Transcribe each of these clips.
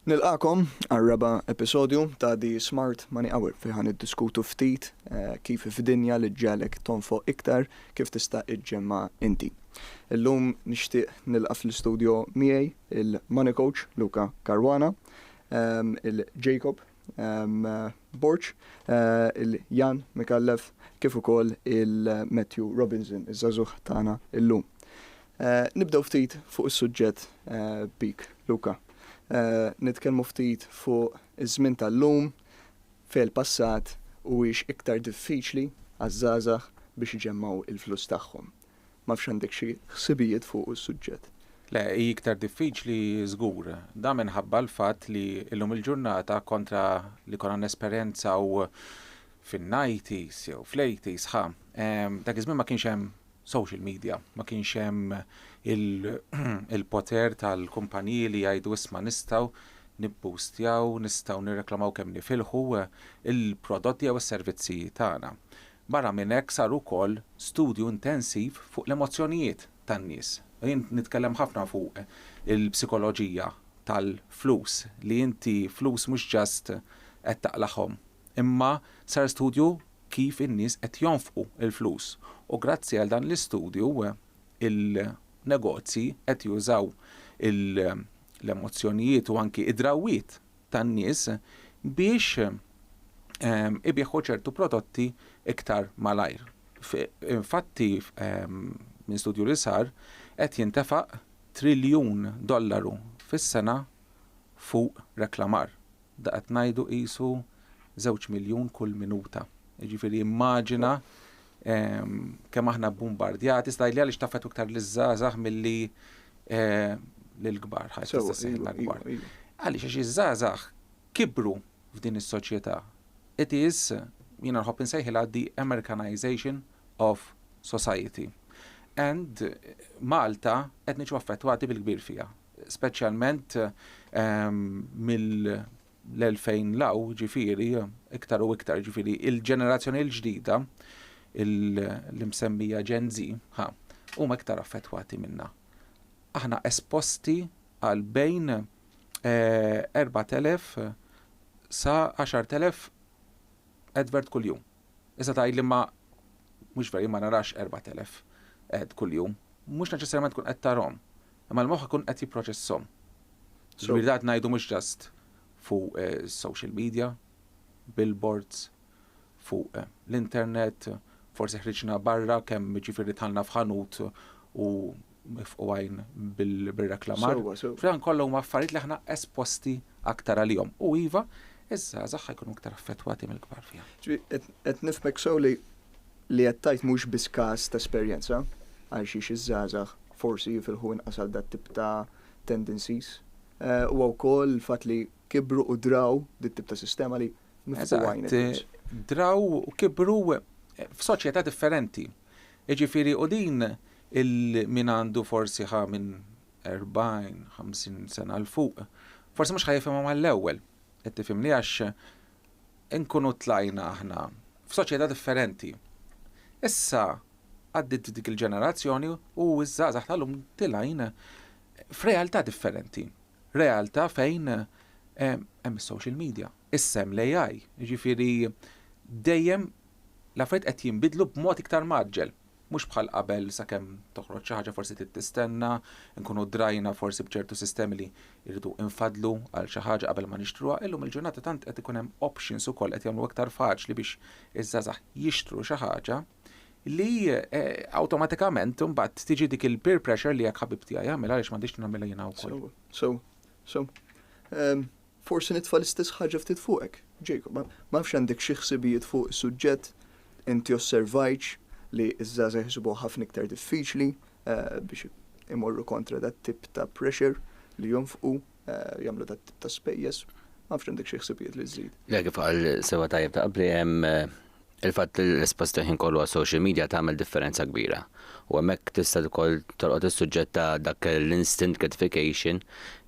Nilqakom għal-raba episodju ta' di Smart Money Hour fejn id-diskutu ftit eh, kif f'dinja li ġalek tonfo iktar kif tista' ġġemma' inti. Illum nixtieq nilqa' fl-istudjo miegħi il-money coach Luca Caruana, il-Jacob Borg, il-Jan Micallef kif ukoll il-Matthew Robinson, iż-żagħżugħ tagħna llum. Nibdew ftit fuq is-suġġett bik Luca. Nitkellmu ftit fuq iż-żmien tal-lum, Fil-passat, huwiex iktar diffiċli għaż-żgħażagħ biex iġemmgħu l-flus tagħhom? M'afx għandek xi ħsibijiet fuqu s-suġġett. Le, hi iktar diffiċli żgur. Dan minħabba l-fatt li llum il-ġurnata kontra li konna nesperjenzaw fin-nighties jew fl-eighties, ħa, dak iż-żmien ma kienx hemm social media. Ma kienx hemm il-poter tal-kumpaniji li jgħidu isma' nistgħu nibboostjaw, nistgħu nirreklamaw kemm nifilħu l-prodotti jew is-servizzi tagħna. Barra minn hekk sar ukoll studju intensiv fuq l-emozzjonijiet tan-nies. Jien nitkellem ħafna fuq il-psikoloġija tal-flus, li inti flus mhux just qed taqlagħhom, imma sar studju kif in-nies qed jonfqu l-flus u grazzi għal dan l-istudju il-negozji qed jużaw l-emozzjonijiet u anki d-drawwiet tan-nies biex ibigħu ċertu prodotti iktar malajr. Infatti minn studju li sar qed jintefaq triljun dollaru fis-sena fuq reklamar. Da qed ngħidu qisu żewġ miljun kull minuta. Jiġifieri immaġina kemm aħna bbumbardjati, iżda li għaliex taffettwa iktar liż-żgħażagħ milli lill-kbar, ħadd jista' seħħ l-akbar. Għaliex għax iż-żgħażagħ kibru f'din is-soċjetà. It is, jiena nħobb insejħilha the Americanization of society. And Malta qed niġu affettwati bil-kbir fiha. speċjalment mill-2000 'l hawn, jiġifieri iktar u iktar, jiġifieri l-ġenerazzjoni l-ġdida, l-imsemmija Gen Z, ħa, huma iktar affettwati minnha. Aħna esposti għal bejn 4,000 sa 10,000 advert kuljum. Issa tgħidli ma mhux vera jien ma narax 4,000 ad kuljum. Mhux neċessarjament tkun qed tarahom, imma l-moħħ ikun qed jipproċesshom. Ġifieri dan qed ngħidu mhux just fuq is-social media, billboards, fuq l-internet, forsi ħriġna barra kemm jiġifieri dħalna f'ħanut u nifqu għajn bir-reklamar. Fl-aħħar kollha huma affarijiet li aħna esposti aktar għalihom. U iva, iż-żgħażagħ ħajkunu aktar affettwati mill-kbar fiha. Qed nifhmek sew li li qed tgħid mhux biss każ ta' esperjenza għalxiex iż-żgħażagħ forsi jifilħu inqas għal dat-tip ta' tendencies. Huwa wkoll il-fatt li kibru u draw dit-tip ta' sistema li nifqu għajn. Draw u kibru f'soċjetà differenti. Jiġifieri u din il min għandu forsi ħa minn erbgħin, ħamsin sena 'l fuq, forsi mhux ħa jifhimha mal-ewwel, qed tifhimni, għax inkunu tlajna aħna f'soċjetà differenti. Issa għaddiet dik il-ġenerazzjoni u ż-żgħażagħ tal-lum tilgħin f'realtà differenti. Realtà fejn hemm is-social media, issa hemm l-AI, jiġifieri dejjem L-affarijiet qed jinbidlu b'mod iktar mgħaġġel. Mhux bħal qabel sakemm toħroġ xi ħaġa forsi trid tistenna, inkunu drajna forsi b'ċertu sistemi li rridu infaddlu għal xi ħaġa qabel ma nixtruha, illum il-ġurnata tant qed ikun hemm options ukoll qed jagħmlu iktar faċli biex iż-żgħażagħ jixtru xi ħaġa li awtomatikament imbagħad tiġi dik il-peer pressure li jekk ħabib tiegħi jagħmilha għaliex m'għandix nagħmilha jiena wkoll. Sew, sew, sew. Forsi nitfa' l-istess ħaġa ftit fuqek, Jacob. Ma nafx għandek xi ħsibijiet fuq is-suġġett, inti osservajtx li ż-żgħażagħ jsibuha ħafna iktar diffiċli biex imorru kontra dat-tip ta' pressure li jonfqu, jagħmlu dat-tip ta' spejjeż. Ma nafx għandek xi ħsibijiet li żżid. Le, kif qal sewwa tajjeb ta' qabli, hemm Il-fatt li l-espost il-ħin kollu għas-social media tagħmel differenza kbira u hemmhekk tista' ukoll tolqot is-suġġett ta' dak l-instant gratification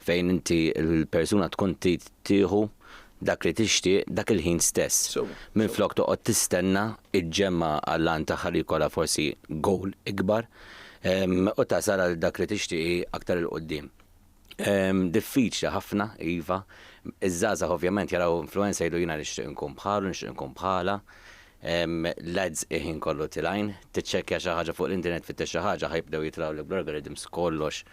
fejn inti l-persuna tkun trid tieħu dak li tixtieq dak il-ħin stess minflok toqgħod tistenna ġġemma' għall-għan tagħha li jkollha forsi goal ikbar u tasal għal dak li tixtieqi aktar 'il quddiem. Diffiċli ħafna, iva. Iż-żgħażagħ ovvjament jaraw influencer jgħidu jiena nixtieq inkun bħalu, nixtieq inkun bħalha. L-ads il-ħin kollu tilgħin. Tiċċekkja xi ħaġa fuq l-internet tfittex xi ħaġa ħa jibdew jitlgħulek bl-algorithms kollox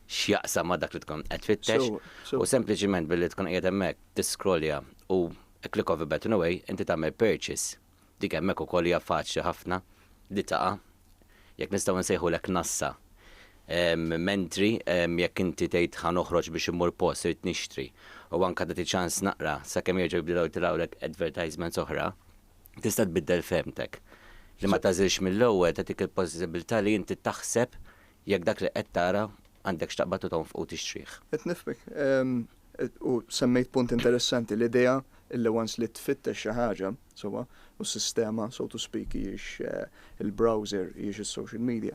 x'jaqsam ma' dak li tkun qed tfittex. U sempliċiment billi tkun qiegħed hemmhekk tisskrollja u a click of a button away inti tagħmel purchase. Dik hemmhekk ukoll hija faċli ħafna li taqa', jekk nistgħu nsejħulek nassa. Mentri jekk inti tgħid ħa noħroġ biex immur post, irid nixtri, u anke tagħti ċans naqra sakemm jerġgħu jibdew jitilgħulek advertisements oħra, tista' tbiddel fehmtek. Li ma tagħżilx mill-ewwel tagħtik il-possibbiltà li inti taħseb jekk dak li qed tara għandekx taqbad u tonfoq u tixtrih. Qed nifhmek. U semmejt punt interessanti, l-idea illi once li tfittex xi ħaġa, sewwa, u s-sistema, so to speak, hijiex il-browser, hijiex is-social media,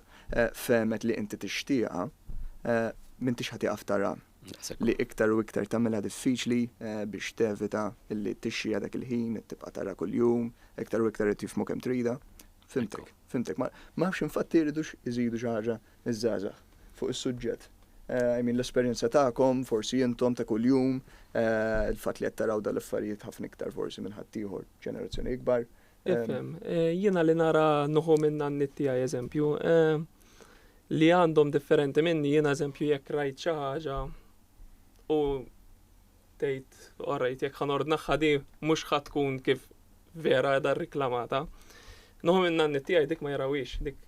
fehmet li inti tixtieqha, m'intix ħa tieqaf tara li iktar u iktar tagħmilha diffiċli biex tevita illi tixxiha dak il-ħin, tibqa' tara kuljum, iktar u iktar qed jifhmu kemm tridha. Fhimtek, fhimtek. Ma nafx infatti jridux iżidu xi ħaġa iż-żgħażagħ fuq is-suġġett. I mean l-esperjenza tagħkom, forsi intom ta' kuljum, il-fatt li qed taraw dal-affarijiet ħafna iktar forsi minn ħaddieħor ġenerazzjoni ikbar. Ifhem, jiena li nara nuħu minn nanniet tiegħi eżempju, li għandhom differenti minni jiena eżempju jekk rajt xi ħaġa u tgħid orrejt jekk ħanordnaħħa di mhux ħadd tkun kif vera edha riklamata. Noħu minn nanni tiegħi dik ma jarawix, dik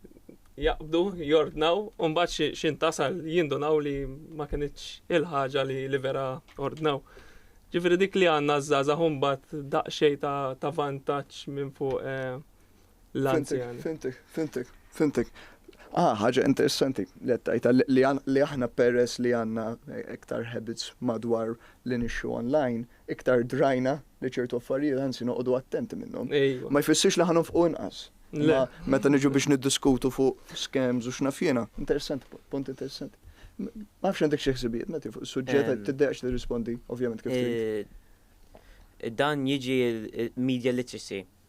jaqbdu, jordnaw, u mbagħad xi tasal jindunaw li ma kinitx il-ħaġa li li vera ordnaw. Ġifieri dik li għandna żgħażagħ mbagħad daqsxejn ta' vantaġġ minn fuq eh, l-anzjani. Fintek, fintek, fintek. Ah, ħaġa interessanti li għattajta li aħna peress li għanna iktar habits madwar li nixxu online, iktar drajna li ċertu affarijiet għansi noqdu attenti minnhom. Ma jfissirx li ħanhom fuq inqas. Meta niġu biex niddiskutu fuq scams u xnafjena, interessanti, punt interessanti. Ma fx għandek xi ħsibijiet meta fuq suġġett ehm. tiddeqx tirrispondi, ovvjament kif. Eh, dan jiġi media literacy.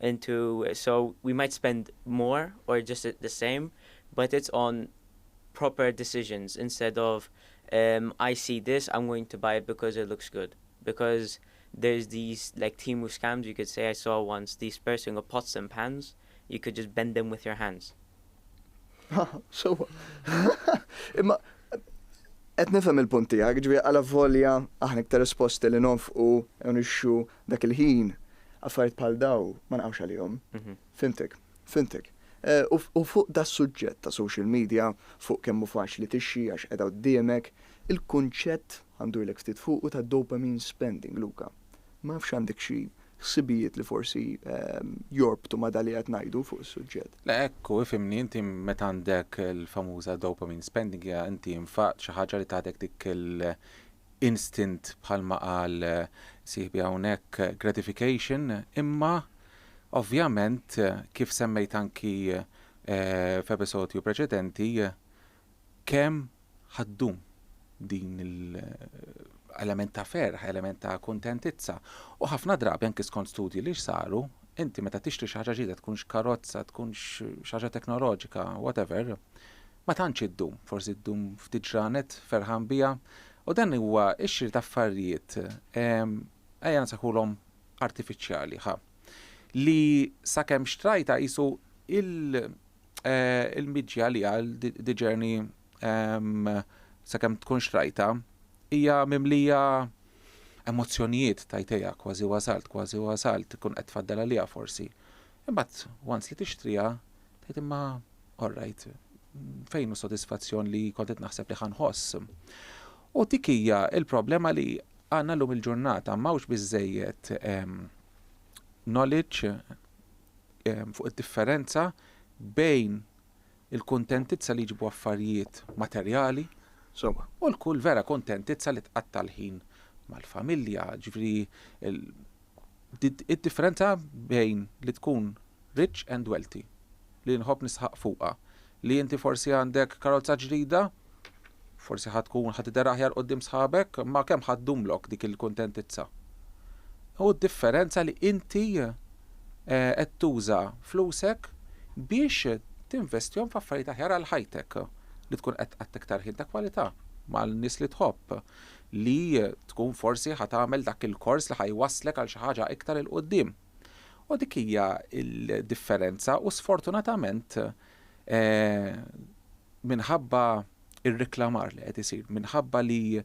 into so we might spend more or just the same but it's on proper decisions instead of um I see this I'm going to buy it because it looks good because there's these like Temu scams you could say I saw once these person got pots and pans you could just bend them with your hands so imma qed nifhem il-punt tiegħek, ġifieri għala volja aħna iktar esposti li nonfqu u nixxu Dak il-ħin affarijiet bħal dawn ma nqawx għalihom. Fhimtek. Fhimtek. U fuq das-suġġett ta' social media, fuq kemm hu faċli tixxi għax qiegħda quddiemek, il-kunċett, ħa ndurlek ftit fuqu, ta' dopamine spending, Luca. Ma nafx għandek xi ħsibijiet li forsi jorbtu ma' dak li qed ngħidu fuq is-suġġett. Le hekk hu, ifhimni, inti meta għandek il-famuża dopamine spending hija inti nfaqt xi ħaġa li tagħtek dik instant bħalma qal sieħbi hawnhekk gratification imma ovvjament kif semmejt anki f'episodju preċedenti kemm ħa ddum din l-element ta' ferħ, element ta' kuntentizza. U ħafna drabi anki skont studji li saru, inti meta tixtri xi ħaġa ġdida tkunx karozza, tkunx xi ħaġa teknoloġika, whatever, Ma tantx iddum, forsi ddum ftit ġranet, ferħan biha, u dan huwa x-xiri ta' affarijiet, ejja nsejħulhom artifiċjali, ħa, li sakemm xtrajtha qisu l-mġja għaliha, the journey sakemm tkun xtrajtha, hija mimlija emozzjonijiet, tgħid ejja kważi wasalt, kważi wasalt, ikun qed tfaddal għaliha forsi. Imbagħad once li tixtriha, Tgħid imma all right, fejn hu s-sodisfazzjon li kont qed naħseb li ħa nħoss? U dik hija l-problema li għandna llum il-ġurnata, m'hawnx biżżejjed knowledge fuq id-differenza bejn il-kuntentizza li jġibu affarijiet materjali u l-kull vera kuntentizza li tqatta' l-ħin mal-familja, ġifieri Id-differenza bejn li tkun rich and wealthy, li nħobb nisħaq fuqha, li inti forsi għandek karozza ġdida, forsi ħa tkun ħa tidher aħjar quddiem sħabek, imma kemm ħa ddumlok dik il-kuntentizza? Hu d-differenza li inti qed tuża flusek biex tinvestihom f'affarijiet aħjar għal ħajtek, li tkun qed tqatta' iktar ħin ta' kwalità mal-nies li tħobb, li tkun forsi ħa tagħmel dak il-kors li ħa jwasslek għal xi ħaġa iktar 'il quddiem. U dik hija l-differenza u sfortunatament minħabba r-reklamar li qed isir, minħabba li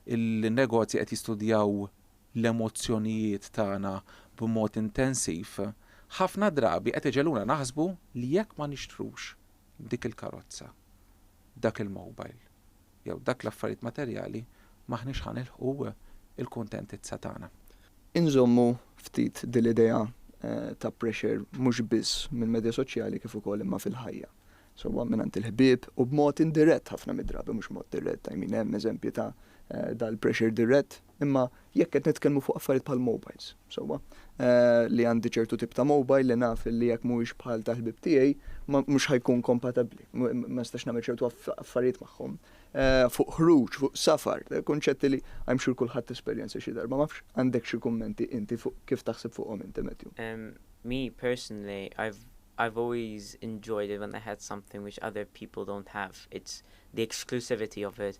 l-negozji qed jistudjaw l-emozzjonijiet tagħna b'mod intensiv, ħafna drabi qed iġegħluna naħsbu li jekk ma nixtrux dik il-karozza, dak il-mobile, jew dak l-affarijiet materjali m'aħniex ħa nilħqu l-kuntentizza tagħna. Inżommu ftit din l-idea ta' pressure mhux biss mill-medja soċjali kif ukoll imma fil-ħajja. Sewwa mingħand il-ħbieb u b'mod indirett ħafna mid-drabi mhux mod dirett, I mean hemm eżempji ta' dal-pressure dirett. Imma jekk qed nitkellmu fuq affarijiet bħal mobiles, sewwa, li għandi ċertu tip ta' mobile li naf li jekk mhuwiex bħal tal-ħbieb tiegħi mhux ħa jkun kompatabbli, ma nistax nagħmel ċertu affarijiet magħhom. Fuq ħruġ, fuq safar, kunċetti li I am sure kulħadd esperjenza xi darba, ma nafx għandekx xi kummenti inti fuq kif taħseb fuqhom inti Matthew? Me personally I've I've always enjoyed it when I had something which other people don't have, it's the exclusivity of it,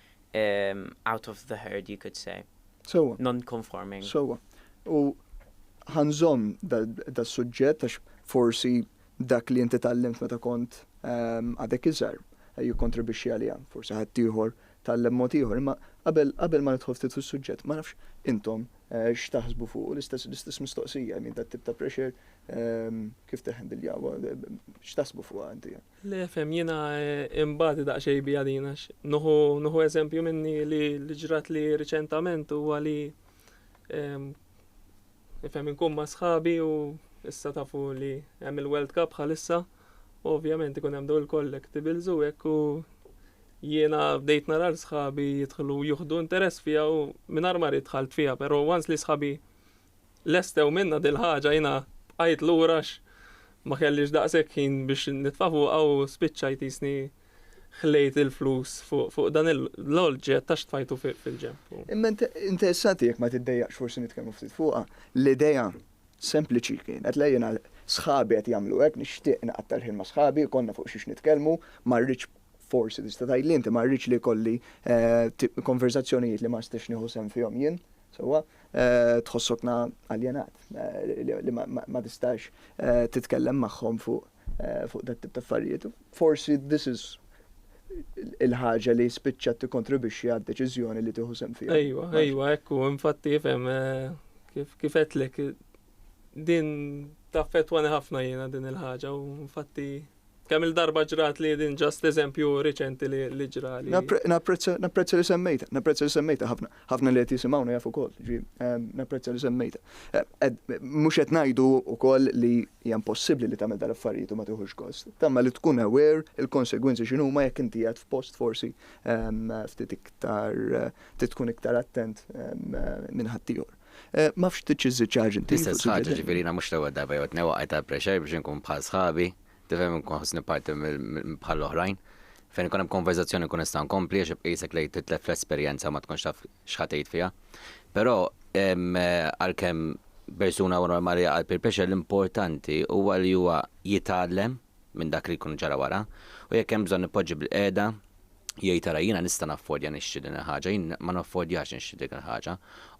um, out of the herd, you could say. Sewa. Non-conforming. Sewa. U ħanżom da suġġett għax forsi dak li inti tallimt meta kont ehm, għadek iżar eh, jikkontribixxi għalija, forsi ħadd ieħor tallem mod ieħor, imma qabel qabel ma nidħol ftit fis-suġġett, ma nafx intom eh, x'taħsbu fuq l-istess l-istess mistoqsija minn dat tip ta' pressure ehm, kif teħendiljaw, eh, x'taħsbu fuq inti? Le fehm jiena inbati daqxejn biha din għax nuħu nuħu eżempju minni li li ġratli riċentament huwa li fehm inkun ma' sħabi u issa tafu li hemm il-World Cup bħalissa u ovvjament ikun hemm daw il-collectibles u hekk u jiena bdejt narar sħabi jidħlu juħdu interess fija u mingħajr ma rid dħalt fija, però once li sħabi Lestew minnha dil-ħaġa jiena bqajt lura għax ma kellix daqshekk ħin biex nitfa' fuqha u spiċċajt qisni ħlejt il-flus fuq dan l-oġġett għax tfajtu fil-ġenb. Imma interessanti jekk ma tiddejjaqx forsi nitkellmu ftit fuqha, l-idea sempliċi kienet le jiena sħabi qed jagħmlu hekk, nixtieq inqatta' l-ħin ma' sħabi, ikollna fuq xiex nitkellmu, ma rridx forsi tista' tgħidli inti ma rridx li jkolli konverżazzjonijiet li ma nistax nieħu sehem fihom jien, sewwa. Eh, tħossokna aljenat eh, li ma tistax eh, titkellem magħhom fuq fuq dat tip ta' affarijiet. Forsi this is il-ħaġa li spiċċa tikkontribwixxi għad deċiżjoni li tieħu sem fiha. Ejwa, ejwa, ekku, infatti jifhem kif kif qedlek din taffettwani ħafna jiena din il-ħaġa u infatti Kemm il-darba ġrat li din ġast eżempju riċenti li ġra li. Napprezza li semmejta, napprezza li semmejta ħafna, ħafna li qed jisimgħuna jafu wkoll, ġi napprezza li semmejta. Mhux qed ngħidu wkoll li hija impossibbli li tagħmel dal-affarijiet u ma tieħux gost. Tama li tkun aware il-konsegwenzi x'inhuma jekk inti qiegħed f'post forsi ftit iktar trid tkun iktar attent minn ħaddieħor. M'afx trid xi żiċaġ inti. L-istess ħaġa, ġifieri jiena mhux l-ewwel darba jew it-tnejn waqgħet għal pressure biex inkun bħal sħabi, tifhem, inkun ħossni parti bħall-oħrajn. Fejn ikun hemm konverżazzjoni nkun nista' nkompli għax ibqa' qisek li titlef l-esperjenza u ma tkunx taf x'ħa tgħid fiha. Però għalkemm persuna huwa normali jaqgħa għal peer pressure l-importanti huwa li huwa jitgħallem, minn dak li jkun ġara wara, u jekk hemm bżonn nippoġġi bil-qiegħda, jgħid ara jiena nista' naffordja nixtri din il-ħaġa, jien ma naffordjax nixtri dik il-ħaġa,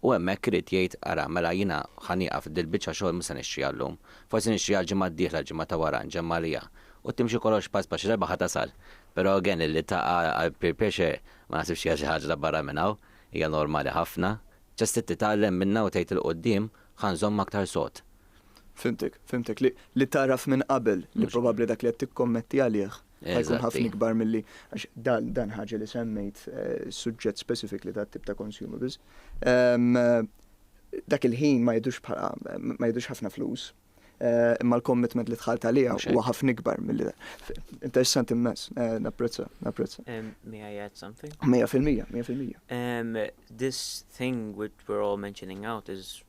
u hemmhekk irid jgħid ara mela jiena ħa nieqaf dil-biċċa xogħol mhux se nixtriha llum, forsi nixtriha l-ġimgħa d-dieħla, l-ġimgħa ta' wara, nġemm' għaliha. U timxi kollox pass pass, xi darba ħa tasal. Però again illi taqa' għal peer pressure ma naħsibx hija xi ħaġa ta' barra minn hawn, hija normali ħafna. Just trid titgħallem minnha u tgħid 'il quddiem ħa nżomm aktar sod, Fimtek, fimtek, li taraf minn qabel li probabbli dak li qed tikkommetti għalih ħajkun ħafna ikbar milli għax dan ħaġa li semmejt eh, suġġett specifically ta' tip ta' consumables. Ehm, dak il-ħin ma jidux bħala ma jidux ħafna flus. Eh, imma l-commitment li tħalt għalija huwa ħafna ikbar milli Interessanti immens, eh, napprezza, napprezza. Ehm, may I add something? Mija fil-mija, mija fil-mija. Ehm, this thing which we're all mentioning out is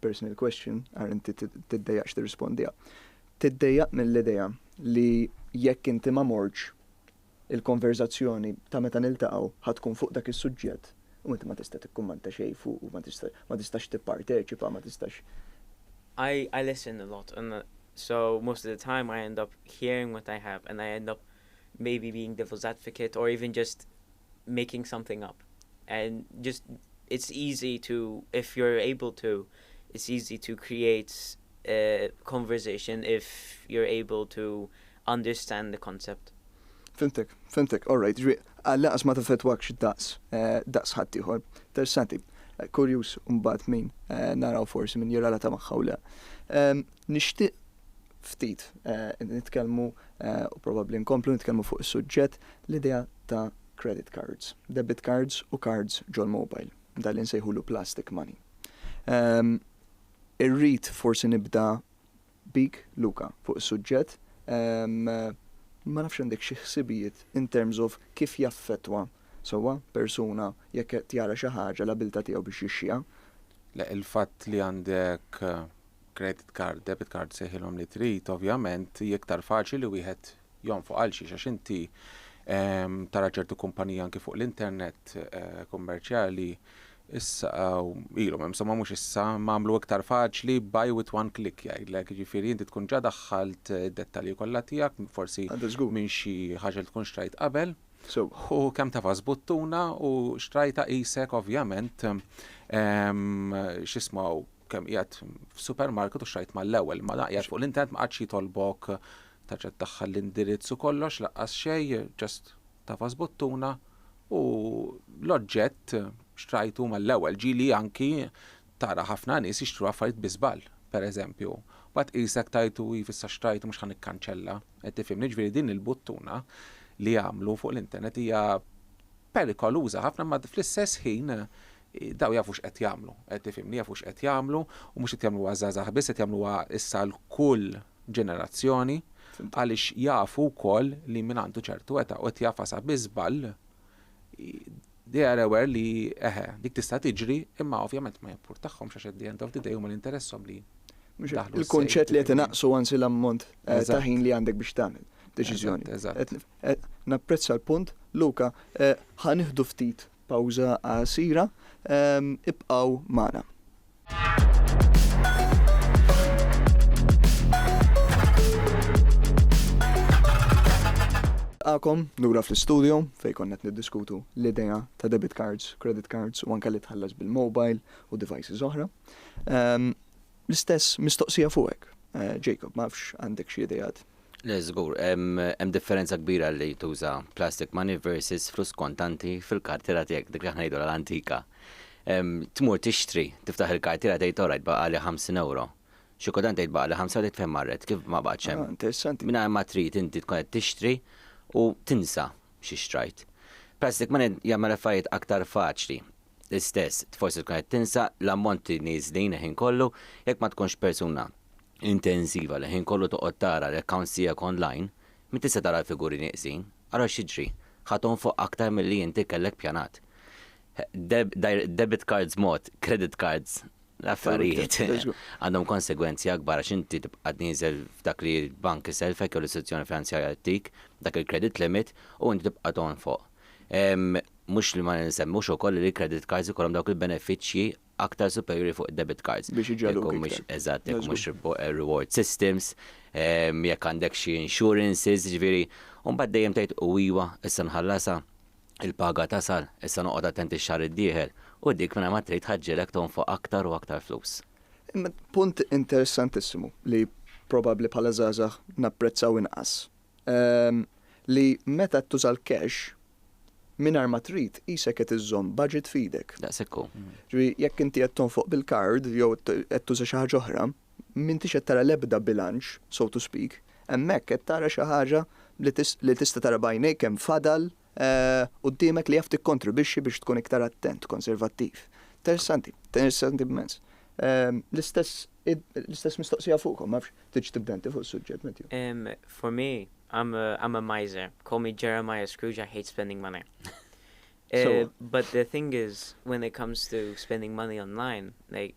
personal question, ara inti tiddejjaqx tirrispondiha. Tiddejjaq mill-idea li jekk inti ma mortx, il-konverżazzjoni ta' meta niltaqgħu ħa tkun fuq dak is-suġġett u inti ma tista' tikkummenta xejn fuqu, ma tistax tipparteċipa, ma tistax. I I listen a lot and so most of the time I end up hearing what they have and I end up maybe being devil's advocate or even just making something up and just it's easy to if you're able to it's easy to create a conversation if you're able to understand the concept. Fimtek, fimtek, all right, ġri, għal-laqas ma taffetwakx daqs, eh, daqs ħaddieħor. Tersanti, eh, kurjus mbagħad min eh, naraw forsi min jirrelata magħha u le. Ehm, nixtieq ftit eh, nitkellmu eh, u probabbli nkomplu nitkellmu fuq is-suġġett l-idea ta' credit cards, debit cards u cards ġol mobile, dan li nsejħulu plastic money. Ehm, irrid forsi nibda bik, Luka, fuq is-suġġett, ehm, ma nafx għandek xi ħsibijiet in terms of kif jaffetwa sewwa persuna jekk tjara xi ħaġa l-abilta tiegħu biex jixxiha. Le il-fatt li għandek eh, credit card, debit card sejħilhom li trid, ovvjament hi iktar faċli li wieħed jonfoq għal xiex għax inti ehm, tara ċertu kumpanija anki fuq l-internet eh, kummerċjali issa eh, ilhom hemm somma mhux issa magħmlu iktar faċli buy with one click jgħidlek, jiġifieri inti tkun ġa daħħalt eh, dettalji kollha tiegħek, forsi minn xi ħaġa li tkun xtrajt qabel. U kemm ta' buttuna u xtrajta isek ovvjament ehm, xismaw kemm qiegħed f'supermarket u xrajt mal-ewwel, ma naqjad fuq l-internet ma qadx jitolbok terġa' tdaħħal l-indirizz u kollox laqqas xejn, just tafas buttuna u l-oġġett xtrajtu mal-ewwel. Ġieli anki tara ħafna nies jixtru affarijiet bi żball, pereżempju, mbagħad tqisek tajtu iv issa xtrajtu mhux ħa nikkanċella, qed tifhimni? Jiġifieri din il-buttuna li għamlu fuq l-internet hija perikoluża ħafna imma fl-istess ħin Dawn jafu x'qed jagħmlu, tifhimni, jafu x'qed jagħmlu u mhux qed jagħmluha għaż-żgħażagħ biss, qed jagħmluha issa għal kull ġenerazzjoni għaliex jafu wkoll li min għandu ċertu età u qed jagħfasha bi żball, they are aware li eħe, dik tista' tiġri imma ovvjament ma jimpurtahomx għax at the end of the day huma li interesshom li jdaħħlu s-sejf. Il-kunċett li qed inaqqsu anzi l-ammont ta' ħin li għandek biex tagħmel deċiżjoni. Napprezza l-punt, Luca, ħa nieħdu ftit Pawża qasira, ibqgħu magħna. Nilqagħkom lura fl-istudio fejn konna qed niddiskutu l-idea ta' debit cards, credit cards u anke li tħallas bil-mobile u devices oħra. L-istess mistoqsija fuqek, Jacob, ma nafx għandek xi ideat Le, żgur, hemm differenza kbira li tuża plastic money versus flus kontanti fil-kartiera tiegħek, dik li aħna ngħidulha l-antika. Tmur tixtri, tiftaħ il-kartiera tgħid orajt baqgħali 50 ewro. Xi kultant tgħid baqgħali ħamsa u tgħid fejn marret, kif ma baqgħetx hemm. Interessanti. Mingħajr ma trid inti tkun qed tixtri u tinsa xi xtrajt. Plastic money jagħmel l-affarijiet aktar faċli. L-istess, forsi tkun qed tinsa l-ammonti nieżlin il-ħin kollu jekk ma tkunx persuna intensiva li l-ħin kollu toqgħod tara l-accounts tiegħek online, min tista' tara l-figuri nieqsin, ara x'jiġri, ħa tonfoq aktar milli inti kellek pjanat. Debit cards mod, credit cards l-affarijiet għandhom konsegwenzi akbar għax inti tibqa' tnieżel f'dak li l-bank isellfek jew l-istituzzjoni finanzjarja ttik, dak il-credit limit, u inti tibqa' tonfoq. Mhux li ma nsemmux ukoll li l-credit cards ikollhom dawk il-benefiċċji aktar superjuri fuq id-debit cards. Biex iġegħluk iktar. Jekk mhux eżatt, jekk mhux reward systems, jekk għandek xi insurances, jiġifieri, u mbagħad dejjem tgħid u iva, issa nħallasha, il-paga tasal, issa noqgħod attent ix-xahar id-dieħel, u dik mingħajr ma trid tħaġġilek tonfoq aktar u aktar flus. Punt interessantissimu li probabbli bħala żgħażagħ napprezzaw inqas li meta qed tuża l-cash mingħajr ma trid qisek qed iżżomm budget f'idek. Daqshekk hu. Ġifieri jekk inti qed tonfoq bil-card jew qed tuża xi ħaġa oħra, m'intix qed tara l-ebda bilanċ, so to speak, hemmhekk qed tara xi ħaġa li tista' tara b'għajnejk kemm fadal quddiemek li jaf tikkontribwixxi biex tkun iktar attent, konservattiv. Interessanti, interessanti immens. Ehm, l-istess l-istess mistoqsija fuqhom, ma nafx tiġ tibda inti fuq is-suġġett, Matthew. Ehm, for me, I'm a, I'm a miser. Call me Jeremiah Scrooge, I hate spending money. Uh, but the thing is, when it comes to spending money online, like,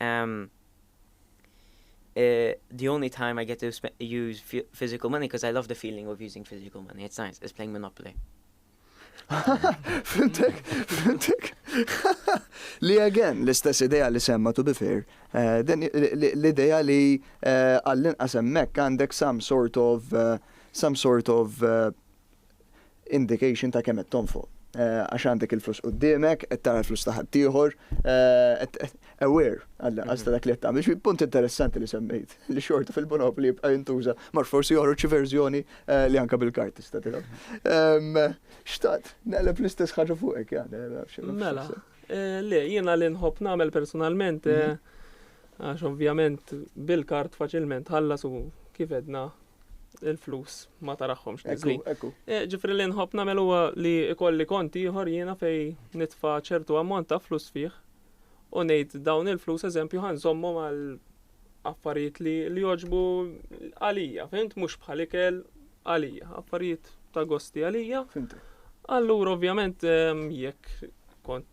Um, uh, the only time I get to use physical money because I love the feeling of using physical money. It's nice. It's playing Monopoly. Fintek, fintek. Li again, l-istess ideja li semma to be fair, eh, l-ideja li eh, għallin qasemmek għandek some sort of, eh, some sort of indication ta' kemm qed tonfoq. Għax għandek il-flus quddiemek, qed tara l-flus ta' ħaddieħor, aware għall-inqas ta' dak li qed tagħmel. Jiġifieri punt interessanti li semmejt li xorta fil-Monopoly jibqa' jintuża, ma nafx forsi joħroġ xi verżjoni li anke bil-kard tista' tilgħab. Xtaqt naqleb l-istess ħaġa fuqek Jan, ma nafx. Mela, le, jiena li nħobb nagħmel personalment, Għax ovvjament bil-kard faċilment tħallas u kif edna il-flus ma taraħħomx tiżli. Eh, ġifri li nħobb nagħmel huwa li ikolli kont ieħor jiena fej nitfa' ċertu ammont ta' flus fih u ngħid dawn il-flus eżempju ħanżommhom għal affarijiet li li joġbu għalija, fint mhux bħal ikel għalija, affarijiet ta' gosti għalija. Allura ovvjament ehm, jekk kont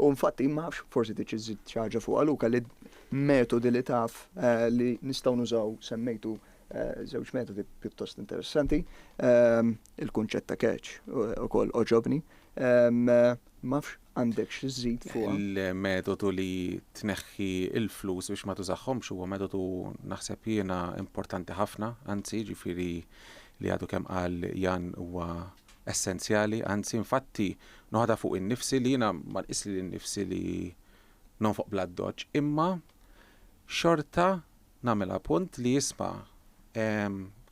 U infatti, ma nafx, forsi trid iżżid xi ħaġa fuqha Luca li metodi li taf li nistgħu nużaw semmejtu żewġ metodi pjuttost interessanti. Il-kunċett ta' catch ukoll oġobni. Ma nafx għandek xi żżid fuqha. Il-metodu li tneħħi l-flus biex ma tużahomx huwa metodu naħseb jiena importanti ħafna, anzi jiġifieri li għadu kemm qal Jan huwa essenzjali, anzi infatti noħodha fuq innifsi li jiena ma nqis lili nnifsi li nonfoq bl-addoċċ, imma xorta nagħmilha punt li isma'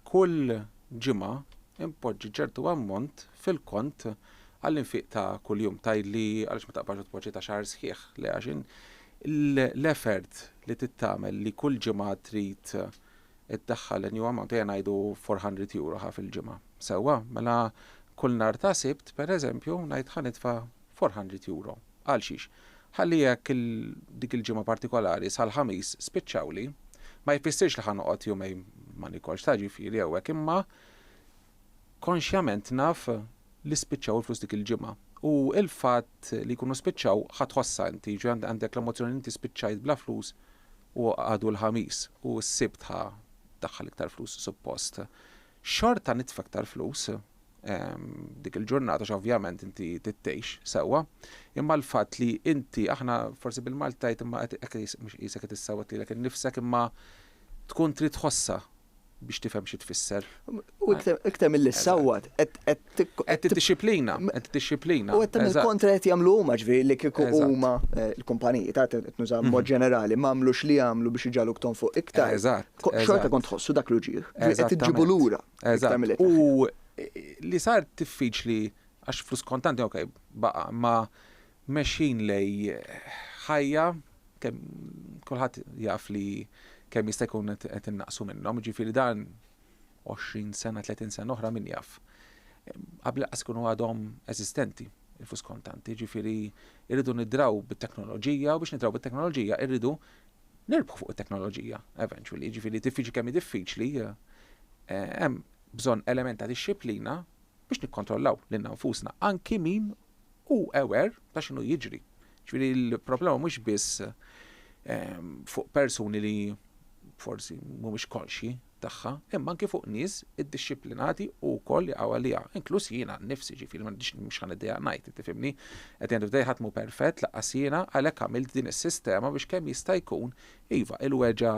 kull ġimgħa npoġġi ċertu ammont fil-kont għall-infiq ta' kuljum. Tgħidli għaliex ma taqbadx u tpoġġi ta' xahar sħiħ? Le għax l-effort li trid tagħmel li kull ġimgħa trid Iddaħħal in-new amount, ejja ngħidu four hundred euro ħa fil-ġimgħa. Sewwa, mela kull nhar ta' Sibt, pereżempju, ngħid ħa nitfa' four hundred euro. Għalxiex? Ħalli jekk dik il-ġimgħa partikolari sal-Ħamis spiċċawli, ma jfissirx li ħa noqgħod jumejn ma nikolx ta' ġifieri jew hekk imma konxjament naf li spiċċaw il-flus dik il-ġimgħa. U l-fatt li jkunu spiċċaw ħa tħossha inti, jiġifieri għandek l-emozzjoni li inti spiċċajt bla flus u għadu l-Ħamis u s-Sibt ħa ddaħħal iktar flus suppost, xorta nitfa iktar flus dik il-ġurnata għax ovvjament inti tittejx sewwa, imma l-fatt li inti aħna forsi bil-Malti tajt imma qed qisek qed issewwet lilek innifsek imma tkun trid tħossha biex tifhem xi tfisser. U iktar milli ssawwat, qed Qed tiddixxiplina, qed tiddixxiplina. U qed tagħmel kontra qed jagħmlu huma ġifieri li kieku huma eh, l-kumpaniji ta' qed nuża mod mhm. ġenerali m'għamlu x'li jagħmlu biex iġaluk tonfoq iktar. Eżatt. Xorta kont tħossu dak l-uġieħ. Qed iġġibu lura. Eżatt. U eh, li sar diffiċli għax flus kontanti ok baqa' ma Mexjin lejn ħajja kemm kulħadd jaf li kemm jista' jkun qed innaqsu minnhom, jiġifieri dan 20 sena, 30 sena oħra min jaf. Qabel lanqas ikunu għadhom eżistenti il-flus kontanti, jiġifieri rridu nidraw bit-teknoloġija u biex nidraw bit-teknoloġija rridu nirbħu fuq it-teknoloġija eventually, jiġifieri diffiċli kemm hi diffiċli hemm bżonn element ta' dixxiplina biex nikkontrollaw lilna nfusna anki min hu aware ta' x'inhu jiġri. Ġifieri l-problema mhux biss fuq persuni li forsi mhumiex konxji tagħha, imma anki fuq nies iddixxiplinati u wkoll jaqgħu għaliha, inkluż jiena nnifsi, ġifieri m'għandix mhux ħa niddejjaq ngħid, tifhimni? At the end of the day ħadd mhu perfett lanqas jiena għalhekk għamilt din is-sistema biex kemm jista' jkun, iva, il-weġgħa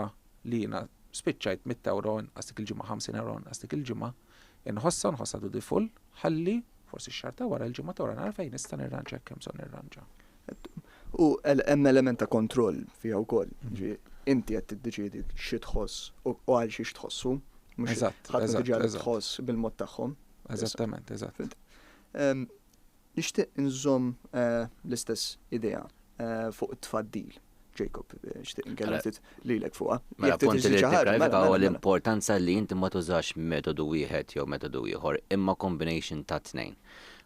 li jiena spiċċajt mitt ewro inqas dik il-ġimgħa, ħamsin ewro inqas dik il-ġimgħa, Inħossha u nħossha dutiful, ħalli, forsi x-xahar ta' wara, il-ġimgħa ta' wara nara fejn nista' nirranġa jekk hemm bżonn nirranġa. U hemm element ta' kontroll fiha wkoll. Inti qed tiddeċiedi xi tħoss u għal xiex tħossu. Eżatt. Ħadd ma tiġi għal tħoss bil-mod tagħhom. Eżattament, eżatt. Nixtieq inżomm l-istess idea fuq it-tfaddil. Jacob, nixtieq inkellem ftit lilek fuqha. Mela, punt li tifraħ huwa l-importanza li inti ma tużax metodu wieħed jew metodu ieħor, imma combination tat-tnejn.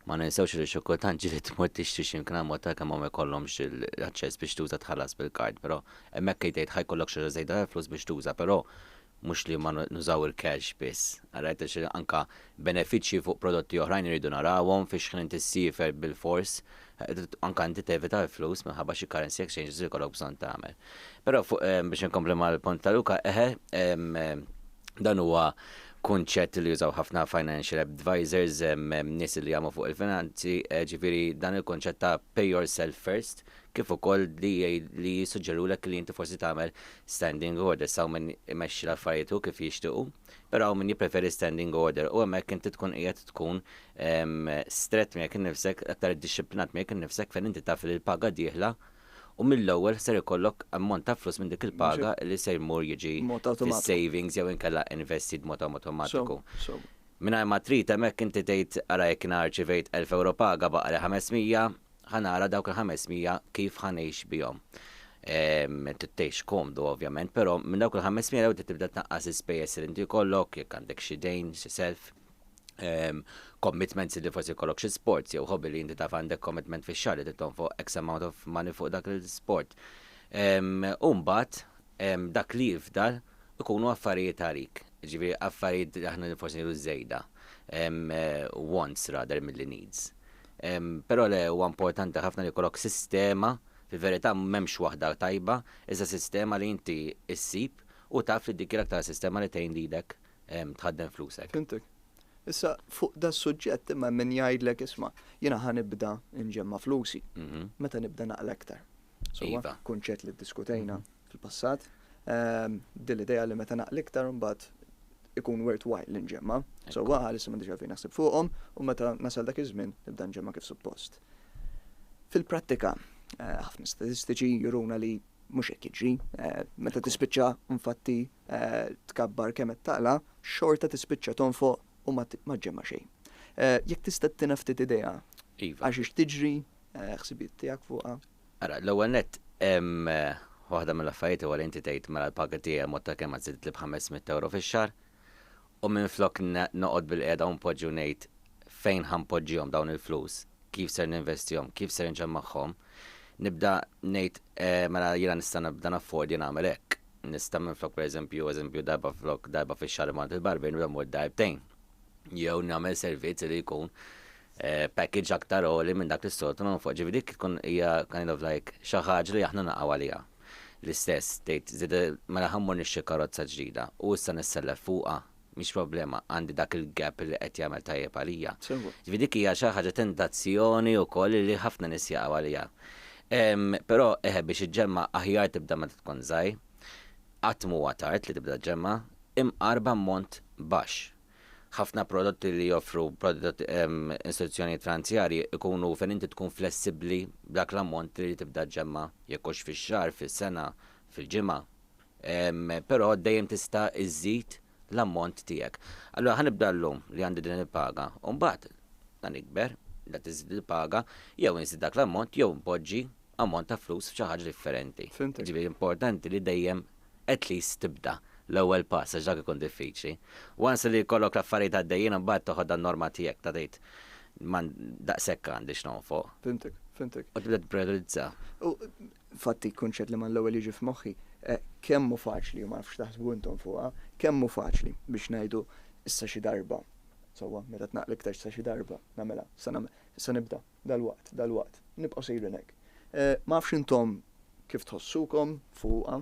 Ma ninsewx li xi kultant ġieli tmur tixtri xi mkien għall-mod kemm hawn ma jkollhomx l-aċċess biex tuża tħallas bil-kard, però hemmhekk qed jgħid ħa jkollok xi ħaġa żejda tal-flus biex tuża, però mhux li ma nużaw il-cash biss. Ara qed ngħid anke benefiċċji fuq prodotti oħrajn irridu narawhom, fiex ħin inti ssiefer bilfors, anke inti tevita l-flus minħabba xi currency exchanges li jkollok bżonn tagħmel. Però fuq biex inkompli mal-punt ta' Luca, eħe, dan huwa kunċett li jużaw ħafna financial advisors, nies li jagħmlu fuq il-finanzi, ġifieri dan il-kunċett ta' pay yourself first, kif ukoll li jsuġġerulek li inti forsi tagħmel standing orders, hawn min imexxi l-affarijiet hu kif jixtiequ, però hawn min jippreferi standing order u hemmhekk inti tkun qiegħed tkun strett miegħek innifsek, aktar iddixxiplinat miegħek innifsek fejn inti taf li l-paga dieħla u mill-ewwel ser ikollok ammont ta' flus minn dik il-paga li se jmur jiġi fis-savings jew inkella investit b'mod awtomatiku. Mingħajr ma trid hemmhekk inti tgħid ara jekk jiena rċivejt elf ewro paga baqgħeli ħames mija, ħa nara dawk il-500 kif ħa ngħix bihom. Ehm, Tittejx komdu ovvjament, però minn dawk il-500 l-ewwel tibda tnaqqas ispejjeż li inti jkollok, jekk għandek xi dejn, xi self, ehm, commitments li forsi jkollok xi sports jew hobby li inti taf għandek commitment fix-xahar li titton fuq X amount of money fuq dak il-sport. Ehm, u mbagħad dak li jifdal ikunu affarijiet għalik, jiġifieri affarijiet li aħna forsi ngħidu żejda, wants rather milli needs. Però le, huwa importanti ħafna li jkollok sistema, fil-verità m'hemmx waħda tajba, iżda sistema li inti ssib u taf li dik hi l-aktar sistema li tgħin lilek tħaddem flusek. Fhimtek. Issa, fuq das-suġġett imma hemm min jgħidlek isma', jiena ħa nibda nġemma' flusi. Meta nibda naqla' iktar? Sewwa, kunċett li ddiskutejna fil-passat. Din l-idea li meta naqli iktar imbagħad ikun worthwhile li nġemma. Sewwa, bħalissa m'għandix għalfejn naħseb fuqhom u meta nasal dak iż-żmien nibda nġemma kif suppost. Fil-prattika, ħafna statistiċi juruna li mhux hekk jiġri. Meta tispiċċa infatti tkabbar kemm qed taqla, xorta tispiċċa tonfoq u ma ġġemma xejn. Jekk tista' ttina ftit idea għax ix tiġri ħsibijiet tiegħek fuqha? Ara, l-ewwel nett, waħda mill-affarijiet huwa li inti tgħid mela l-paga tiegħi ammont ta' kemm żiditli b'ħames mitt ewro fix-xahar, u minflok noqgħod bilqiegħda u npoġġi u ngħid fejn ħa npoġġihom dawn il-flus, kif ser ninvestihom, kif ser inġa magħhom, nibda ngħid mela jiena nista' nibda naffordja nagħmel hekk. Nista' minflok pereżempju, eżempju, darba flok darba fix-xahar immur għand il-barbier nibda mmur darbtejn. Jew nagħmel servizz li jkun package aktar għoli minn dak li s-soltu nagħmlu fuqha. Ġifieri dik tkun hija kind of like xi ħaġa li aħna naqgħu għaliha. L-istess, tgħid, żied mela ħa mmur nixtri karozza ġdida u issa nissellef fuqha, mhix problema, għandi dak il-gap li qed jagħmel tajjeb għalija. Sewa. Ġifieri dik hija xi ħaġa tentazzjoni wkoll li ħafna nies jaqgħu għaliha. Però eħe biex iġġemma' aħjar tibda meta tkun żgħir, qatt m'huwa tard li tibda ġġemma', imqar b'ammont baxx. Ħafna prodotti li joffru istituzzjonijiet franzjarji jkunu fejn inti tkun flessibbli b'dak l-ammont li tibda ġġemma', jekk hux fix-xahar, fis-sena, fil-ġimgħa. Però dejjem tista' iżżid l-ammont tiegħek. Allura ħa nibda llum li għandi din il-paga u mbagħad la nikber, la tiżdied il-paga, jew inżid dak l-ammont jew inpoġġi ammont ta' flus f'xi ħaġa differenti. Jiġifieri importanti li dejjem at least tibda l-ewwel pass għax dak ikun diffiċli. Once li jkollok l-affarijiet għaddejjin imbagħad toħod għan-norma tiegħek ta' tgħid daqshekk għandi x'nonfoq. Fhimtek, fhimtek. U tibda tipprijorizza. U infatti l-kunċett li mal ewwel jiġi f'moħħi, kemm hu faċli, u ma nafx x'taħsbu intom fuqha, kemm hu faċli biex ngħidu issa xi darba, sewwa, meta tnaqqli iktar sa xi darba nagħmilha, issa nibda. Dalwaqt, dalwaqt, nibqgħu sejrin hekk. Ma nafx intom kif tħossukom fuqha,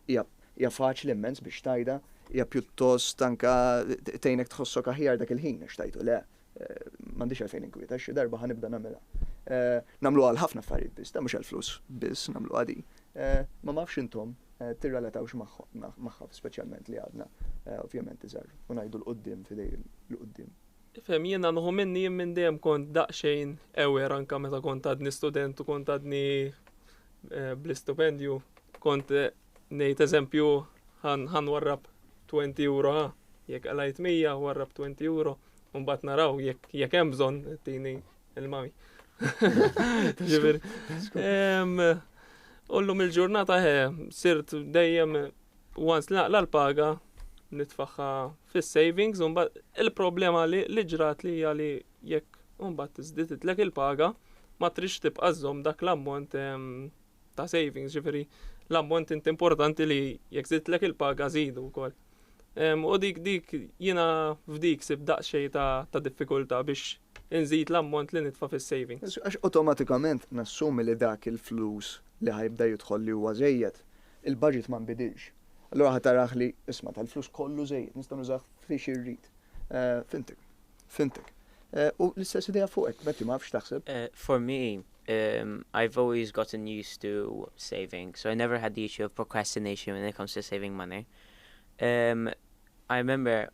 hija hija faċli immens biex tgħidha, hija pjuttost anke tgħinek tħossok aħjar dak il-ħin għax tgħidtu le, m'għandix għalfejn inkwieta, xi darba ħa nibda nagħmilha. Nagħmluha għal ħafna affarijiet biss, mhux għall-flus biss nagħmluha din. Ma ma nafx intom tirrelatawx magħha speċjalment li għadna ovvjament iżgħar u ngħidu 'l quddiem f'idej 'l quddiem. Tifhem, jiena nħu minni jien minn dejjem kont daqsxejn aware anke meta kont għadni student u kont għadni eh, bl-istipendju. Kont eh, ngħid eżempju ħan warrab 20 euro ha, jekk għalajt 100 warrab 20 euro, u mbagħad naraw jekk hemm bżonn tini il-mami. Ġifieri. Ullum il-ġurnata he, eh, sirt dejjem Once li naqla' l-paga nitfagħha fis-savings u mbagħad il-problema li li ġrat li hija li jekk mbagħad żdiditlek il-paga ma trix tibqa' żżomm dak l-ammont ehm, ta' savings, ġifieri l-ammont inti importanti li jekk żidtlek il-paga żidu wkoll. Ehm, u dik dik jiena f'dik sib daqsxejn ta', ta diffikultà biex inżid l-ammont li nitfa' fis-savings. Għax awtomatikament nassumi li dak il-flus li ħajbda jidħol li huwa żejjed Il-budget ma nbidilx. Allura ħadd arah li, isma' tal-flus kollu żejjed, nista' nużah fi xi rrid. Fhimtek. Fhimtek. U l-istess idea fuqek, Betty, ma nafx x'taħseb. For me, I've always gotten used to saving, so I never had the issue of procrastination when it comes to saving money. I remember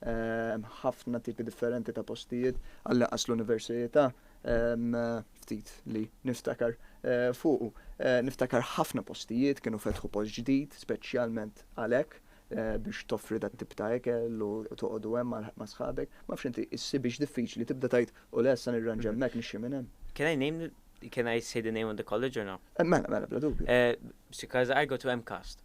Hemm ħafna tipi differenti ta' postijiet għall-inqas l-università ftit li niftakar eh, fuqu. Eh, niftakar ħafna postijiet kienu fetħu post ġdid, speċjalment għalhekk eh, biex toffri dat tip ta' ekel u toqogħdu hemm ma' sħabek. Ma fx inti issi biex diffiċli tibda tajt u lessa nirranġa hemmhekk nixxi minn hemm. Can I name can I say the name of the college or no? Mela, mela, bla dubju. Because I go to MCAST.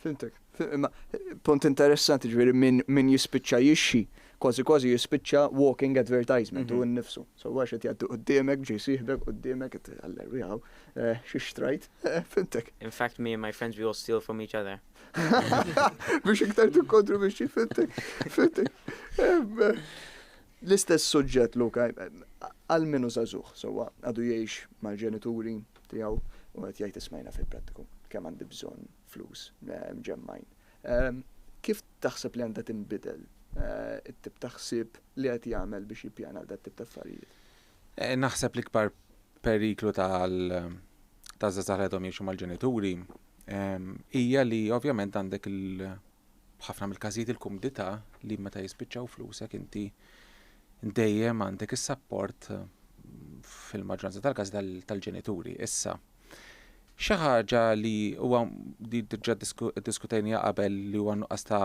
Fimtek. Imma punt interessanti ġviri minn min jispiċċa jixxi, kważi kważi jispiċċa walking advertisement u mhm. nnifsu. So għax qed jgħaddu qudiemek, ġej siħbek qudiemek qed għaller wieħu eh, xi xtrajt, eh, fimtek. In fact me and my friends we all steal from each other. Biex iktar tikkontru biex fimtek. Fimtek. Eh, l-istess suġġett Luka, għal minu zazuħ, so għadu jiex mal-ġenituri, tiegħu u qed jgħid ismajna fil-prattiku kemm għandi bżonn flus mġemmgħin. Kif taħseb li għandha tinbidel it-tip ta' ħsieb li qed jagħmel biex jippjana għal dat-tip ta' affarijiet? Naħseb l-ikbar periklu taż-żgħażagħ li għadhom jgħixu mal-ġenituri hija li ovvjament għandek B'ħafna mill-każijiet il-kumdità li meta jispiċċaw flusek inti dejjem għandek is-sapport fil-maġġoranza tal-każi tal-ġenituri. Issa, xi ħaġa li huwa di diġà diskutejnija qabel li huwa nuqqas ta'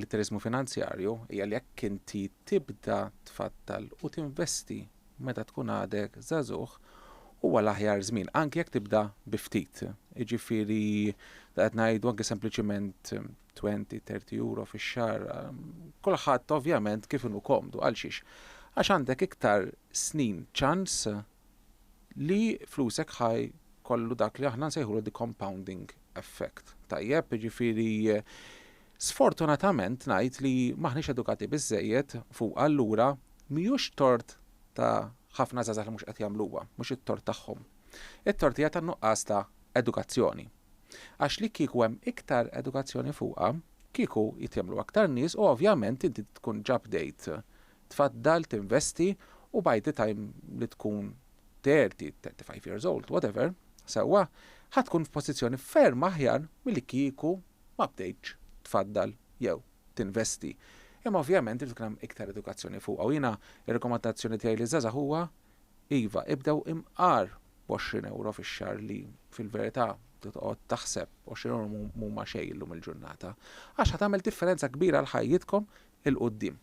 litteriżmu finanzjarju hija li jekk inti tibda tfaddal u tinvesti meta tkun għadek żagħżugħ huwa l-aħjar żmien, anki jekk tibda bi ftit. Jiġifieri qed ngħidu anki sempliċiment 20, 30 euro fix-xahar. Kulħadd ovvjament kif inhu komdu għal xiex? Għax għandek iktar snin ċans li flusek ħaj kollu dak li aħna nsejħulu the compounding effect. Tajjeb, jiġifieri Sfortunatament ngħid li m'aħniex edukati biżżejjed fuqha allura mhijiex tort ta' ħafna żgħażagħ li mhux qed jagħmluha, mhux it-tort tagħhom. It-tort hija tan-nuqqas ta' edukazzjoni. Għax li kieku hemm iktar edukazzjoni fuqha, kieku jitgħemlu aktar nies u ovvjament inti tkun ġa bdejt tfaddal, tinvesti u by the time li tkun thirty, thirty five years old, whatever, sewwa, ħa tkun f'pożizzjoni ferm aħjar milli kieku ma bdejtx tfaddal jew tinvesti. Imma ovvjament irid ikun hemm iktar edukazzjoni fuqha u jiena r-rekomandazzjoni tiegħi liż-żgħażagħ huwa iva, ibdew imqar b'għoxrin ewro fix-xahar li fil-verità toqgħod taħseb għoxrin ewro m'huma xejn illum il-ġurnata, għax ħa tagħmel differenza kbira għal ħajjitkom 'il quddiem.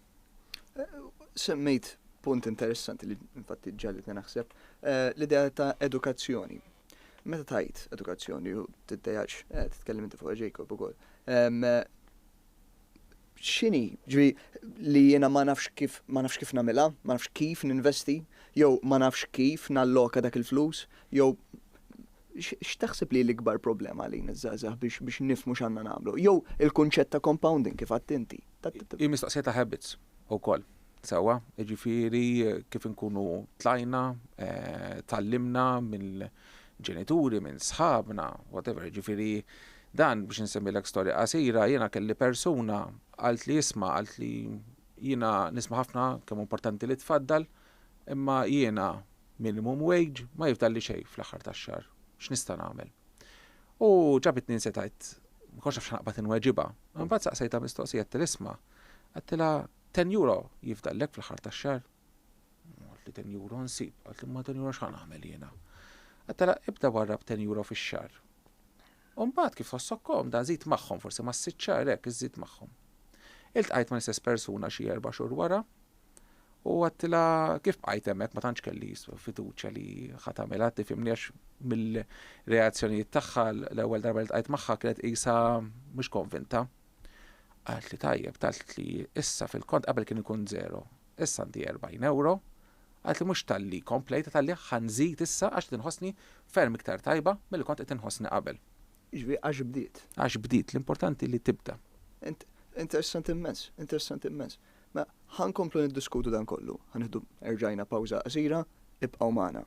Semmejt punt interessanti li infatti ġegħlitni naħseb, l-idea ta' edukazzjoni. Meta tgħid edukazzjoni u tiddejaqx, eh, titkellem inti fuq Jacob ukoll. X'inhi, ġri li jiena ma nafx kif ma nafx kif nagħmilha, ma nafx kif ninvesti, jew ma nafx kif nalloka dak il-flus, jew x'taħseb li l-ikbar problema għalina żgħażagħ biex biex nifmu x'għandna nagħmlu? Jew il-kunċett ta' compounding kif għadt inti? Hi mistoqsija ta' habits ukoll. Sewwa, jiġifieri kif inkunu tlajna, tgħallimna mill-ġenituri, minn sħabna, whatever, jiġifieri dan biex insemmilek storja qasira, jiena kelli persuna qaltli isma' qaltli jiena nisma' ħafna kemm hu importanti li tfaddal imma jiena minimum wage ma jifdalli xejn fl-aħħar tax-xahar, x'nista' nagħmel? U ġabitni nsiet għidt, ma kontx naf x'ħa naqbad inweġibha, imbagħad saqsejtha mistoqsija għedtilha isma' għedtilha Ten euro jifdallek fl-aħħar tax-xahar? Għalt li ten euro nsib, għalt imma ten euro x'ħa nagħmel jiena? Għadt ara ibda warrab ten euro fix-xahar. U mbagħad kif tħossok komda żid magħhom forsi mas-sitt xahar hekk iżżid magħhom. Iltqajt mal-istess persuna xi erba' xhur wara u għattilha kif bqajt hemmhekk ma tantx kelli fiduċja li ħa tagħmilha tifhimni għax mill-reazzjonijiet tagħha l-ewwel darba li tqajt magħha kienet qisha mhux konvinta. Qaltli tajjeb, qaltli issa fil-kont qabel kien ikun żero, issa għandi erbgħin ewro, qaltli mhux talli komplejt talli ħa nżid issa għax qed inħossni ferm iktar tajba milli kont qed inħossni qabel. Jiġifieri għax bdiet. Għax bdiet, l-importanti li tibda. Interessanti immens, interessanti immens. Mela, ħa nkomplu niddiskutu dan kollu. Ħa nieħdu erġajna pawża qasira, ibqgħu magħna.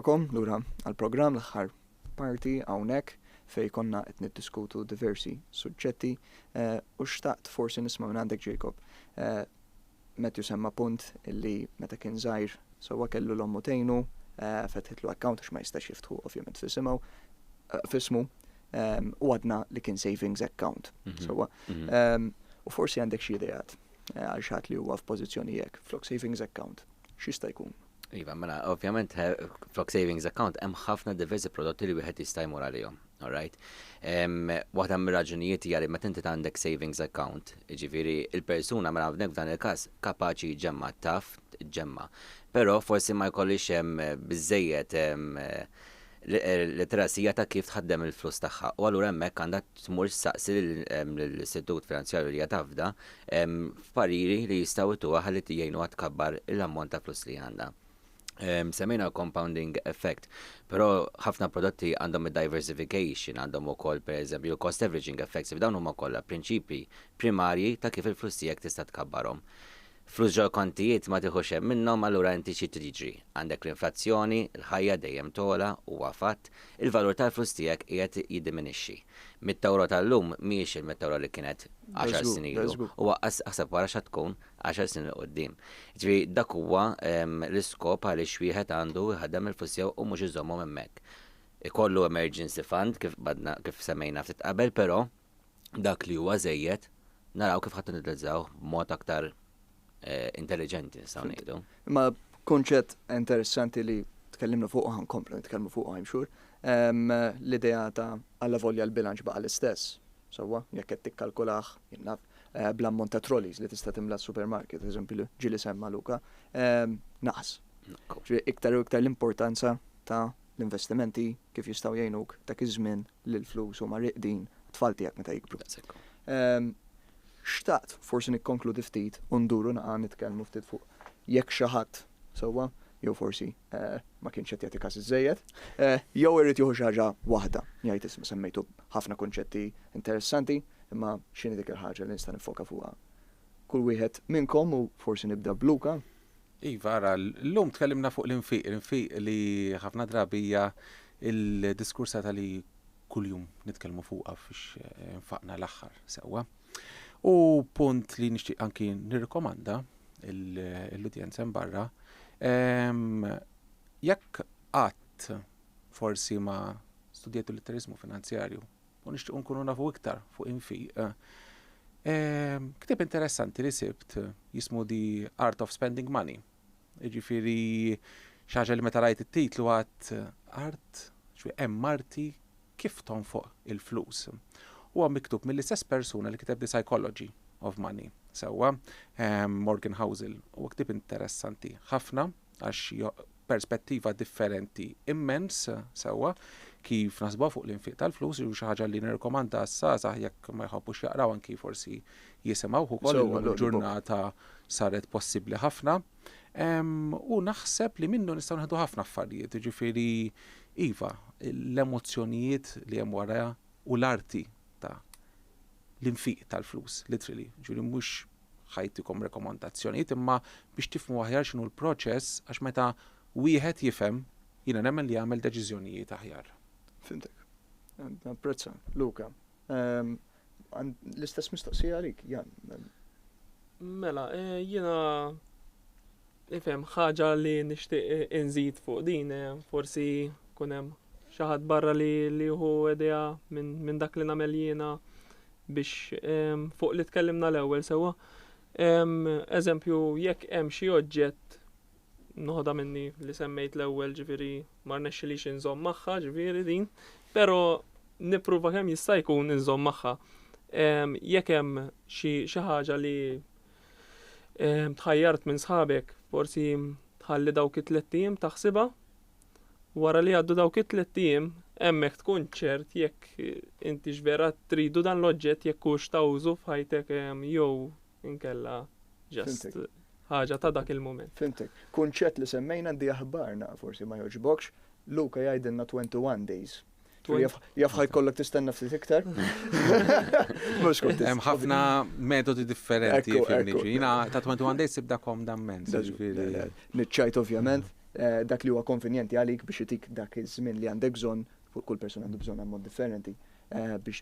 Kom, lura għal-programm l-aħħar parti hawnhekk fej konna qed niddiskutu diversi suġġetti eh, u xtaqt forsi nisma' minn għandek Jacob. Eh, Matthew semma punt illi meta kien żgħir sewwa kellu l-ommu tgħinu, fetħitlu account għax ma jistax jiftħu ovvjament f'isimgħu, f'ismu, u għadna li kien savings account. Sewwa. U forsi għandek xi ideat għal xi ħadd li huwa f'pożizzjoni hekk, flok savings account, x'jista' jkun? Iva, mela, ovvjament, flok savings account, hemm ħafna diversi prodotti li wieħed jista' jmur għalihom. Alright. Waħda mir-raġunijiet hija li meta inti għandek savings account, ġifieri il-persuna mela hawnhekk f'dan il-każ kapaċi ġemma taf ġemma. Però forsi ma jkollix hemm biżejjed L-literacy hija ta' kif tħaddem il-flus tagħha u allura hemmhekk għandha tmur issaqsi lill-istitut finanzjarju li hija tafda f'pariri li jistgħu jtuha ħalli jgħinuha tkabbar l-ammont ta' flus li għandha. Semmejna l-compounding effect, però ħafna prodotti għandhom id-diversification, għandhom ukoll pereżempju l-cost averaging effects, f'dawn huma kollha prinċipji primarji ta' kif il-flus tiegħek tista' tkabbarhom. Flus ġol-kontijiet ma tieħux hemm minnhom allura inti xi trid jiġri? Għandek l-inflazzjoni, l-ħajja dejjem togħla, huwa fatt, il-valur tal-flus tiegħek qiegħed jiddiminixxi. Mitt-ewro tal-lum mhijiex il-mitt ewro li kienet għaxar snin ilu u aqqas aħseb wara x'għad tkun għaxar snin 'l quddiem. Jiġifieri dak huwa l-iskop għaliex wieħed għandu jħaddem il-flus tiegħu u mhux iżommhom hemmhekk. Ikollu emergency fund kif badna kif semmejna ftit qabel però dak li huwa żejjed naraw kif ħadd niddezzawh b'mod aktar intelliġenti nistgħu ngħidu. Imma kunċett interessanti li tkellimna fuq ħan komplu nitkellmu fuq I'm sure, l-idea ta' alla volja l-bilanċ baqa' l-istess. Sewwa, jekk qed tikkalkulah, jien naf, bl-ammont ta' trolleys li tista' timla s-supermarket, eżempju li ġieli semma Luka, naqas. Iktar u iktar l-importanza ta' l-investimenti kif jistgħu jgħinuk dak iż-żmien li l-flus huma rieqdin għat-tfal tiegħek meta jikbru. Daqshekk. Xtaqt forsi nikkonkludi ftit u nduru naqa' nitkellmu ftit fuq jekk xi ħadd sewwa jew forsi ma kienx qed jagħti każ iżżejjed, jew irid jieħu xi ħaġa waħda, jgħid isma' semmejtu ħafna kunċetti interessanti, imma x'inhi dik il-ħaġa li nista' niffoka fuqha? Kull wieħed minnkom u forsi nibda b'Luca, Iva, ara, l-lum tkellimna fuq l-infiq, l-infiq li ħafna drabi hija il-diskursa tal-li kull-jum nitkellmu fuqa fiex eh, nfaqna l-axħar sewa. U punt li nixtieq anki nirrikomanda l-udjenza barra, ehm, jekk qatt forsi ma studjajtu l-litterizmu finanzjarju u nixtiequ nkunu nafu iktar fuq infiq. Ehm, Ktib interessanti li sibt jismu The Art of Spending Money. Ġifiri, xaġa li meta rajt it-titlu għat art, ġwi hemm marti kif tonfoq il-flus. Huwa miktub mill-istess persuna li kiteb The Psychology of Money. Sewwa, ehm, Morgan Housel, u ktib interessanti ħafna. għax hija perspettiva differenti immens sewwa kif naħsbuha fuq l-infiq tal-flus jew xi ħaġa li nirrikomanda għas-żgħażagħ jekk ma jħobbux jaqraw anki forsi jisimgħuh ukoll illum il-ġurnata saret possibbli ħafna. U naħseb li minnu nistgħu nieħdu ħafna affarijiet, jiġifieri iva, l-emozzjonijiet li hemm wara u l-arti ta' l-infiq tal-flus, literally, ġifieri mhux ħajtikom rekomandazzjonijiet imma biex tifhmu aħjar x'inhu l-proċess għax meta wieħed jifhem jiena nemmen li jagħmel deċiżjonijiet aħjar. Fimtek. Napprezza, Luka. Ehm, l-istess mistoqsija għalik, Jan. Mela, eh, jiena Ifhem, ħaġa li nixtieq inżid fuq din, eh, forsi kun hemm xi ħadd barra li jieħu idea minn dak li nagħmel jiena biex ehm, fuq li tkellimna l-ewwel sewwa. Ehm, eżempju, jekk hemm xi oġġett noħodha minni li semmejt l-ewwel ġifieri ma rnexxilix inżomm magħha ġifieri din, però nippruva kemm jista' jkun inżomm magħha. Ehm, jekk hemm xi ħaġa li Eh, tħajjart minn sħabek, forsi tħalli dawk it-tlet tim taħsiba. Wara li għaddu dawk it-tlet tim, hemmhekk tkun ċert jekk eh, inti x'vera tridu dan l-oġġett jekk hux ta' użu f'ħajtek eh, jew inkella ġest ħaġa ta' dak il-moment. Fintek, kunċett li semmejna di aħbarna, forsi ma joġbokx, Luka jgħidilna 21 days Jafħaj kollok tistenna ftit iktar. Mux kont Hemm ħafna metodi differenti fil-liġi. Jina ta' 21 days sibda kom dammen. Nitċajt ovvjament eh, dak li huwa konvenjenti għalik biex itik dak iż-żmien li għandek bżonn, kull persuna għandu bżonn ammont differenti eh, biex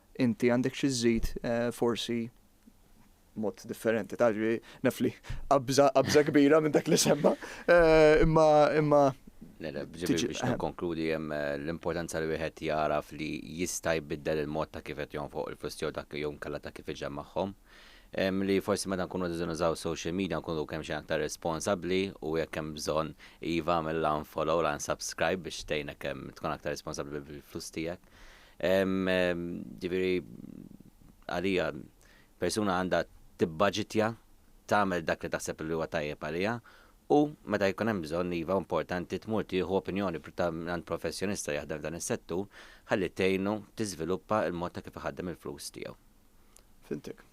Inti għandek xi żżid forsi mod differenti ta' ġri naf li qabża qabża kbira minn dak li semma. Imma imma Ġifieri biex nikkonkludi hemm l-importanza li wieħed jagħraf li jista' jbiddel il-mod ta' kif qed jonfoq il-flus tiegħu dak jew inkella ta' kif iġemmagħhom. Li forsi meta nkunu qegħdin nużaw social media nkunu kemm xejn aktar responsabbli u jekk hemm bżonn iva għamel l-unfollow l-unsubscribe biex tgħinek tkun aktar responsabbli bil-flus tiegħek. Ġifieri għalija persuna għandha tibbaġitja tagħmel dak li taħseb li huwa tajjeb għaliha u meta jkun hemm bżonn iva importanti tmur tieħu opinjoni ta' għand professjonista jaħdem f'dan is-settur ħalli tgħinu tiżviluppa l-mod ta' kif iħaddem il-flus tiegħu. Fintik,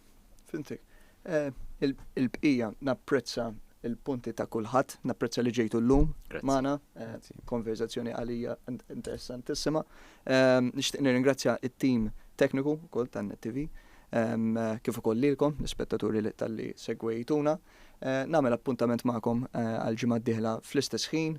fintik. Eh, il-bqija napprezza il-punti ta' kulħadd, napprezza li ġejtu l-lum, mana, eh, konverzazzjoni għalija interessantissima. Ehm, nixtieq nirringrazzja it-tim tekniku kol ta' Net TV, ehm, kif ukoll lilkom, l-ispettaturi li tal-li segwejtuna. Eh, Namel appuntament ma'kom għal-ġimgħa d-dieħla fl-istess ħin,